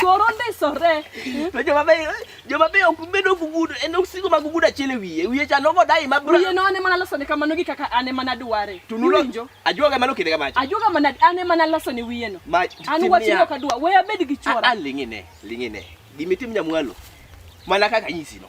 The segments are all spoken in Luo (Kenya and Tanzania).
Choro ndisore. To joma beyo, joma beyo ok bed ogugudo, en osigo mag ogudo achiel e wiye. Wiye cha nogo dai ma bra. Wiye no ane mana loso ne kamano gi kaka ane mana dware. To nulo. Iwinjo? Ajuoga mano kinde kamacha. Ajuoga mana ane mana loso ne wiye no. Ma An tim wachni niya. ok adwa. We abed gi A- chwora. a, ling'ine, ling'ine. Gimitim nyamwalo. Mana kaka nyisi no.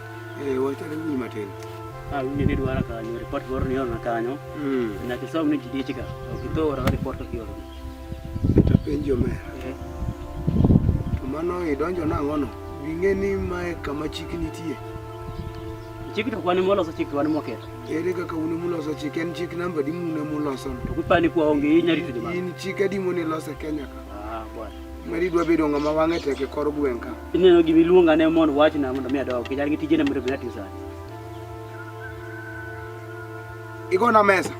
Eh, wachore wi matin. Ah, wi ni dwara kanyo, report moro ni ona kanyo. Mm. Na kisom ni jidich ka. Okito ora report to kioro. Ita penjo me. Eh. To mano idonjo na ngono. Winge ni mae kama chik nitie. Chik to kwani moloso chik kwani moketho. Ere kaka uni muloso chik en chik namba di mune muloso. To kupani kwa onge inyari tudima. In chik adi mune loso Kenya ka. Ah, bwana. Mari dwa bedo ngama wange teke kor gwenka. Ineno gima iluonga ne mondo wachna mondo mi adog. Kijana gi tijene mondo mi ati sani. Igona mesa.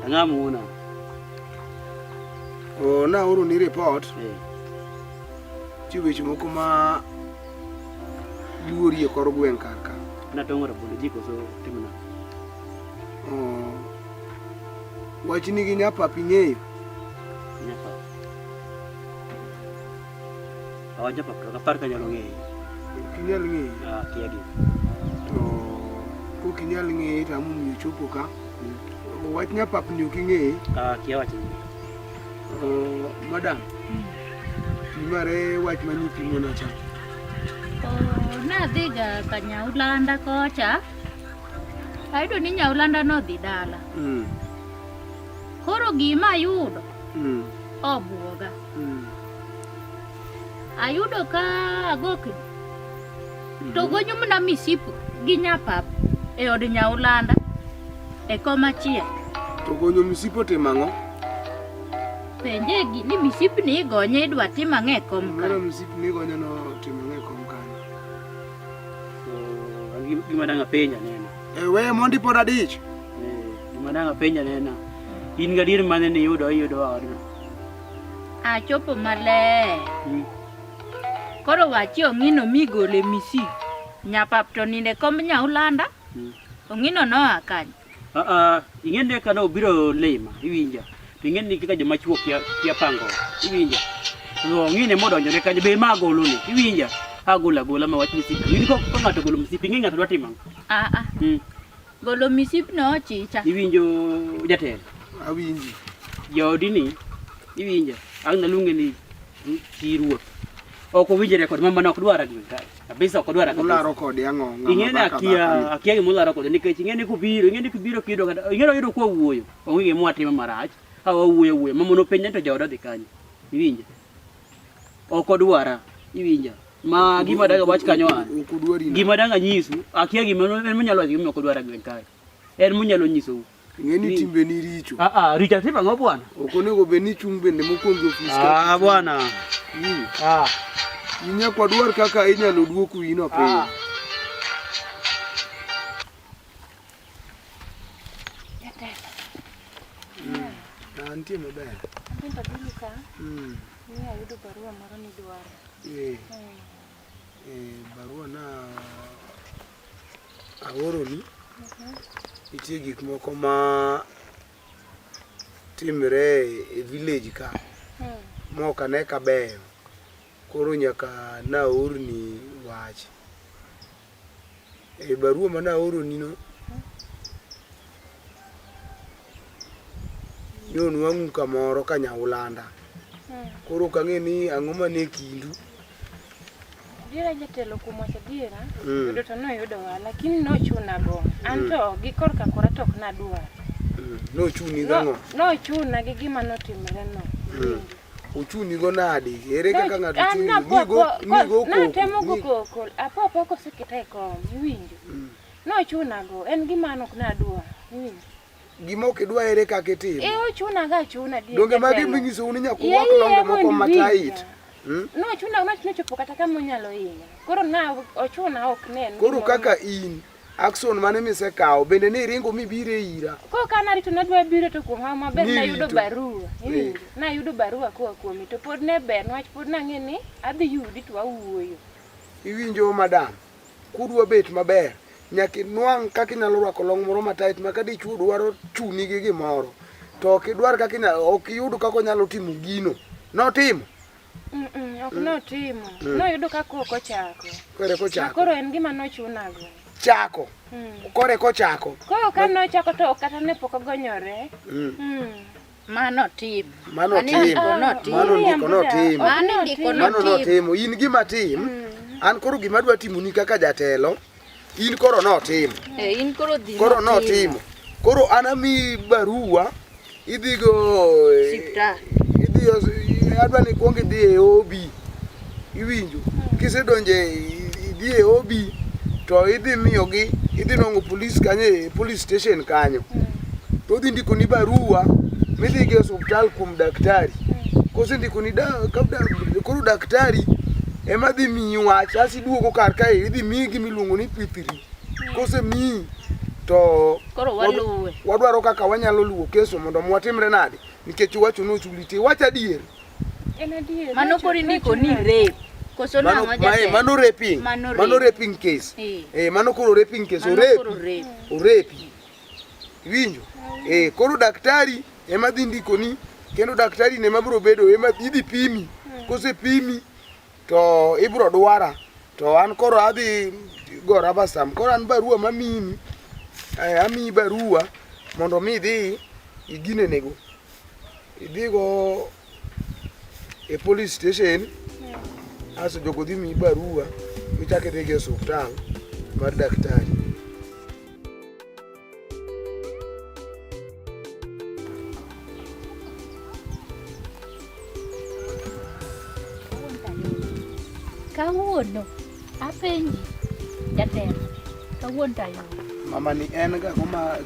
Ang'a muona. O na oro ni report. Eh. Ti weche moko ma luori e kor gweng' kar ka. Na tongora bondo jiko so timna. Oh. Wachni gi nyapapi ng'eyo. Nyapapi. Awacha pa kaka par kanyalo ng'eyo. Kinyal ng'eyo. Ah, kia gi. To ko kinyal ng'eyo to amun mi chopo ka. Mm. Wach nya pap ni uking'eyo. Ah, kia wach ni. Oh, madam. Mm. Mare wach mani pimo na cha. Oh, na dhiga kanyaulanda kocha. Ayudo ni nyaulanda nodhi dala. Mm. Koro gima ayudo. Mm. Obuoga. mm. ayudo ka agokni mm. to gonyumna misipu gi nyapap e od nyaulanda e koma chiel to gonyo misipu otimo ang'o penje gi ni misipu ni igonye idwa tim ang'o e kom ka misipu ni igonye no timo ang'o e kom ka gima dang' apenja nena e we mondi pod adich eh, gima dang' apenja nena in gadier mane niyudo iyudo odno Achopo maler. Mm. Koro wachi ong'ino migole misi. Nyapap to ninde komb nyaulanda. Mm. Ong'ino noa kanyo. Ah, ah, ing'e ni kane obiro lima, iwinja. To ing'e ni kaka joma chuo kia, kia pango, iwinja. To ong'ine modonjore kanyo, be ma agolo ni, iwinja. Agolo agola ma wach misipi. In ko ko ng'ato ogolo misipi, ing'e ng'ato dwa timo ang'o? Ah, ah. Mm. Golo misipno ochicha. Iwinjo jatelo? Awinji. Jaodi ni iwinjo? Ang' naluonge ni chi ruoth. Ok owinjore kod mama ok dwar agwe kae. Kabisa ok dwar agwe. Ularo kode ang'o? Ing'eni akia akia gima ularo kode nikech ing'eni kubiro ing'eni kubiro kido kata ing'eni oyudo kwa wuoyo. Onge gima watimo marach. Ka wawuoyo wuoyo. Mama nopenja to jaoda dhi kanyo. Iwinjo? Ok odwara. Iwinjo? Ma gima daga wach kanyo a. Gima daga nyisu, akia gima en monyalo wacho gima ok odwar agwen kae. En monyalo nyisou. Ng'eni timbe ni richo. Ah ah, richo timbe ngo bwana? Ok onego bed ni chung bende mokwongo ofis. Ah bwana. Hmm. Ah. Inya kwa dwar kaka inyalo duoku ino piny. Ah. Hmm. Ah, nitie maber. Nitie maber. Mm. Ni ayudo barua moro ni dwaro. Eh, eh, barua na aoroni nitie gik moko ma timre e village ka mok ane kabeyo koro nyaka naorni wach E barua ma naoronino, ne onwang'u kamoro ka nyaulanda. Koro ok ang'e ni ang'o mane kindu. Adiera jatelo kuom wacho adiera, mm. yudo to noyudowa, lakini nochuna go. An mm. to gi korka kora to ok nadwar. Mm. Nochuni gang'o? Nochuna gi gima notimoreno. Uchuni go nadi? Ere kaka ng'ato chuni? An napoko, natemo go koko, apoko ko sekete kom, iwinjo. Mm. Nochuna go, en gima nok nadwa, iwinjo. Gima ok idwa ere kaka itimo? Eh, ochuna ga chuna di. Donge magi minyiso un nyaku wak longo moko matait. Hmm? Nochuna, nochuna chopo kata kama onyalo hinya. Koro na ochuna ok nen. Koro kaka in. Action mane misekawo bende ni iringo mibire ira. Ko kana rito ne dwa biro to kuom hawa maber Ni nayudo rito. barua. Eh. Nayudo barua koa kuomi to pod ne ber niwach pod nang'e ni adhi yudi to awuoyo. Iwinjo madam, kudwa bet maber nyaka inwang' kaka inyalo rwako long moro matait ma ka dichwo dwaro chuni gi gimoro to ok idwar kaka inya- ok iyud kaka onyalo timo gino notimo ok notimo mm. noyudo ka kok ochako kore kochako koro en gima nochunago chako mm. kore kochako koro ka nochako to kata ne pok ogonyore mm. mano tim mano tim mano ndiko no tim mano ndiko no tim in gima tim an koro gima dwa timoni kaka jatelo In koro notimo. Eh, in koro dhi. Koro notimo. Koro anami barua idhigo eh, siptal. Idhi eh, adwa ni kuong idhi e OB. Iwinjo. Hmm. Kisedonje idhi e OB to idhi miyogi idhi nongo police kanyo e police station kanyo. Hmm. To udhi ndiko ni barua midhi gi hospital kuom daktari. Hmm. Kosendiko ni da, kabda, koro daktari ema dhi miyi wach iduogo kar kae idhi miyi gima iluongo ni pithiri kose miyi to Koro waluwe. wadwaro kaka wanyalo luwo keso mondo mwatimre nade nikech iwacho ni ochuli ti wach adier En adier. Mano Rachel, kori ndiko Rachel ni nade? rape. Koso Mano- nang'o mae- jatelo? mano raping Mano rape. mano raping case Eh. eh mano koro raping case Mano orepi koro rape. orepi winjo eh koro daktari ema dhi ndikoni kendo daktari ne mabiro bedo ema idhi pimi kose pimi to ibro dwara to an koro adhi go raba stamp koro an barua mamini eh, amiyi barua mondo mi idhi iginenego idhigo e police station aso jogo dhi miyi barua michak idhi gi e osuptal mar daktari kawuono apenji jatelo kawuono tayo mama ni en ga kuma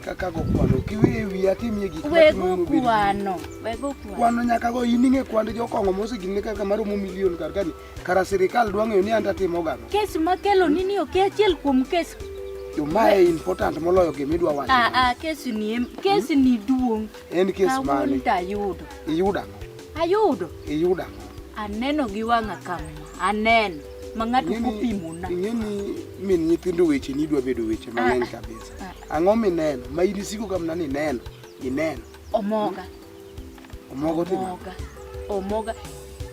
kaka go kwano kiwe wi atimie gik ma wego kwano wego kwano nyaka go ining'e kwand jokongo mosegine kaka maromo milion kar kani Kara sirikal dwa ng'eyo ni an tatimo gang'o. Kes makelo ni ni ok achiel kuom kes. Jo ma e important moloyo gima idwa wacho. Ah ah kes ni em kes ni duong'. En kes mane? Kawuono to ayudo. Iyudo ang'o? Ayudo. Iyudo ang'o? Aneno gi wang'a kama. Aneno. Ma ng'ato kopimona. Ing'e ni min nyithindo weche ni idwa bedo weche mang'eny ah, ah, kabisa. Ah. Ang'o mineno? Ma in isiko kamna ni neno. Ineno. Omoga. Omogo timo. Omoga. Omoga.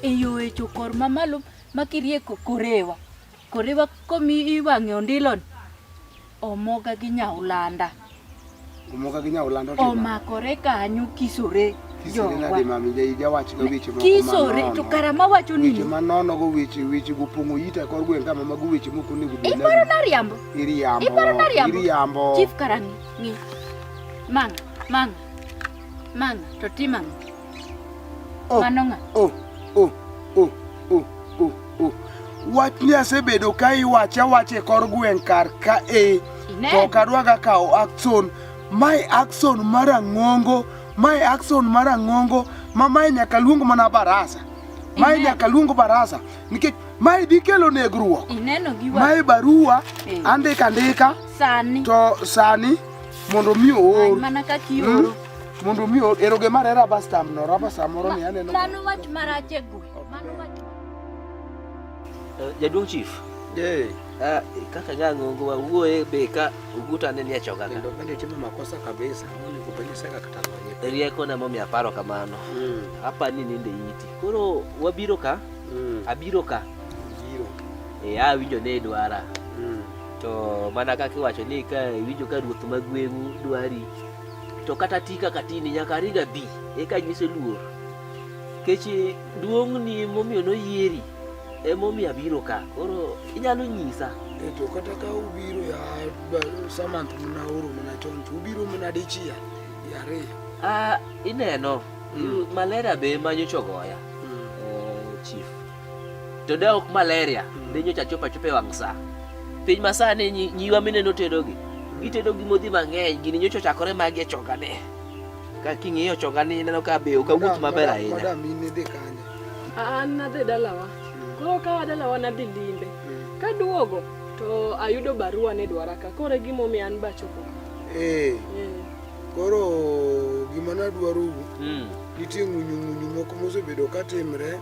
Eyo echo kor mamalo makirieko korewa. Korewa komi iwang'e ondilon. Omoga gi nyaulanda. Omoga gi nyaulanda otimo. Omakore kanyo kisore. Kisore nade mami jawach go weche moko Kisore to kara mawacho ni. Weche manono go weche weche go pongo yita kor gweng kama mago weche moko nego bi. Iparo na riambo. Iriambo. Iparo na riambo. Iriambo. Chief karani. Ni. Manga. Manga. Mang'a to tim ang'o? Oh, Mano ng'a? Oh, oh, oh, oh, oh, oh. Wach ni asebedo ka iwacha wacha e kor gweng' kar ka e to ok adwaga kawo action. Mae action mar ang'ongo, mae action mar ang'ongo ma mae nyaka luong mana barasa. Mae nyaka luong barasa nikech mae dhi kelo negruok. Ineno gi wang'i. Mae barua eh. andika ndika sani to sani mondo mi oor mana kaka ioro hmm? mondo mi oor eroge mar era bastam no raba samoro ni aneno mano wach marach e gwe mano wach eh, jaduong chief eh ah, kaka nyango ngo wawuoye be ka uguta ne nie choga kendo bende timo makosa kabisa ngoni kubeni saka kata lonye rieko na momi aparo kamano hmm. hapa ni ninde yiti koro wabiro ka hmm. abiro ka biro eh awinjo ah, ne dwara to mana kaka iwacho ni ka iwinjo ka ruoth ma gweng'u dwari to kata ti kaka tini nyaka ring abi eka nyise luor kech duong'ni momiyo noyieri emomiyo abiro ka koro inyalo nyisa e to kata ka ubiro ya samant mna oro mna chon to ubiro mna dichiel yariyo ah, ineno mm. malaria be manyo chogoya mm. uh, chief to de ok malaria mm. de nyocha chopa chope wang' saa piny masani nyiwa mineno tedogi gitedo gi modhi mang'eny gini nyocha ochakore magi e chongane ka king'iyo chongani ineno ka be ok awuoth maber ahinya an nadhi dalawa mm. koro kawa dalawa nadhi limbe mm. kaduogo to ayudo barua ni dwara ka koro e gimomiyo an bachopo ee eh. koro gima nadwaro nitie ng'unyung'unyu moko mosebedo ka timre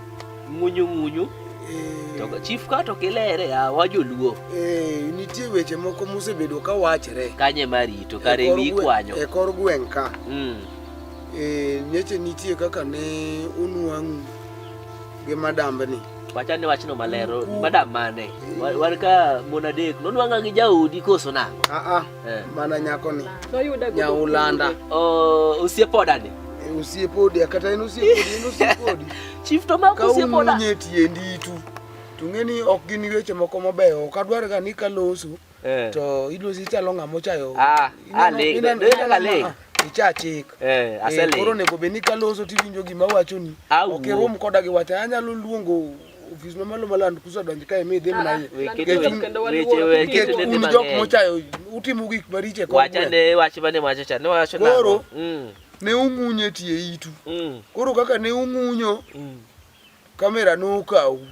Ng'unyu ng'unyu. Eh. To chief ka to kilere ya ah, wajoluo. Eh, nitie weche moko musebedo ka wachre. Kanye marito kare e wi kwanyo. E kor gweng' ka. Mm. Eh, nyeche nitie kaka ne unwang'u gi madambni. Wachane wachno malero. Madam mane? Wan ka mon adek. Nonwang'a gi jaodi koso nang'o? Ah ah. Eh. Mana nyako ni. Nyaulanda. Oh, usiepodani. Eh, usiepodi akata en usiepodi, en usiepodi. Chief to mako usiepoda. Ka unye tiendi tu. Tungeni ok gin weche moko mabeyo. Ok adwar ga ni kaloso. Eh. To idwa si chalo ng'amo chayo. Ah, ah, le. Ina le. Icha chik. Eh, asele. Koro nego be ni kaloso tiwinjo gima wachoni. Ok irum koda gi wacha anyalo luongo ofis mamalo maland kusadonj kae mi idhi mna un jok mochayo utimo gik mariche wachane wach mane wacho cha niwacho koro mm. ne ung'unyo e tie itu mm. koro kaka ne ung'unyo mm. kamera nokawu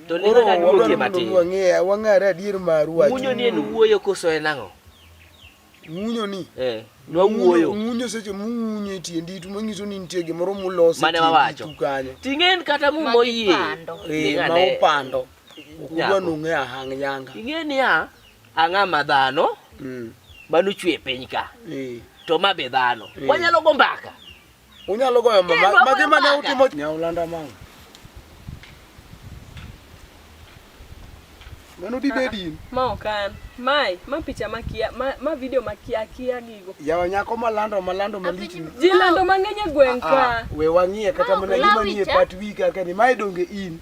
to ne kaka niwuokie matin wang'eya wang'are adier maru wach ng'unyo ni en wuoyo koso en ang'o Ng'unyo ni. Eh, nwa wuoyo. Ng'unyo seche mung'unyo e tie nditu manyiso ni nitie gimoro muloso. Mane wawacho. Ting'en kata mu moyie. Eh, ma upando. Ukudwa nung'e ahang' yanga. Ing'e ni ya, ang'a ma dhano. Mm. Manu chwe piny ka. Eh. To ma be dhano. Eh. Wanyalo go mbaka. Unyalo goyo mama. Magi mane utimo nyaulanda mama. Mano di bedi. Ma okan. Mai, ma picha makia, ma, ma video makia kia gigo. Yawa nyako malando malando malich. Ji lando mang'eny e gweng' ka. We wang'iye kata mana gima nie pat wika kani. Mai donge in.